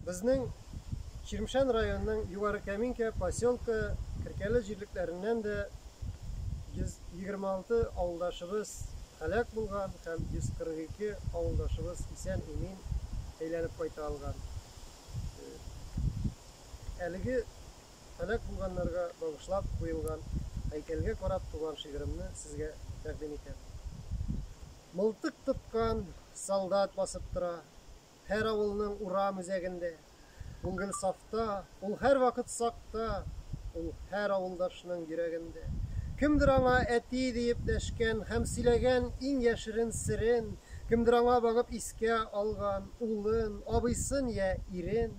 Безнең Чирмшән районының Югары Кәминкә поселкы Керкәле җирлекләреннән дә 126 авылдашыбыз һәлак булган һәм 142 авылдашыбыз исән-имин әйләнеп кайта алган. Э, әлеге һәлак булганнарга багышлап куелган һәйкәлгә карап туган шигыремне сезгә тәкъдим итәм. Мылтык тоткан солдат басып тора Һәр авылның урам үзәгендә. Ул гел сафта, ул һәрвакыт сакта, Ул һәр авылдашның йөрәгендә. Кемдер аңа әти диеп дәшкән Һәм сөйләгән иң яшерен серен, Кемдер аңа багып искә алган Улын, абыйсын йә ирен,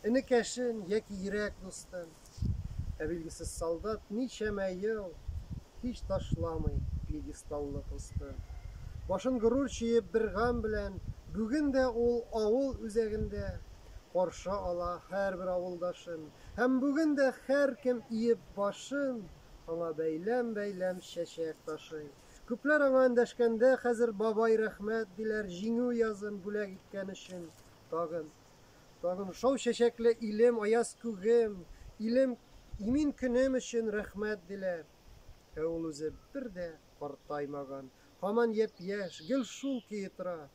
Энекәшен яки йөрәк дустын. Ә билгесез солдат ничәмә ел һич ташламый пьедесталлы посты. Башын горур чөеп бер гам белән, бүген дә ул авыл үзәгендә каршы ала һәрбер авылдашын, һәм бүген дә һәркем иеп башын, аңа бәйләм-бәйләм чәчәк ташый. Күпләр аңа эндәшкәндә хәзер Бабай рәхмәт диләр җиңү язын бүләк иткән өчен тагын. Тагын шау чәчәкле илем, аяз күгем, илем, имин көнем өчен рәхмәт диләр. Ә ул үзе бер дә картаймаган, һаман япь-яшь, гел шул көе тора.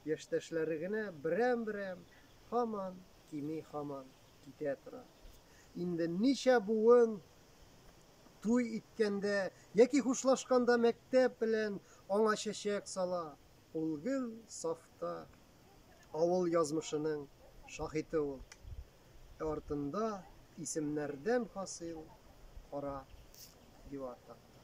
Яшьтәшләре генә берәм-берәм һаман кими, һаман китә тора. Инде ничә буын туй иткәндә яки хушлашканда мәктәп белән аңа чәчәк сала, ул гел сафта. авыл язмышының шаһите ул. Ә артында исемнәрдән хасил кара дивар такта.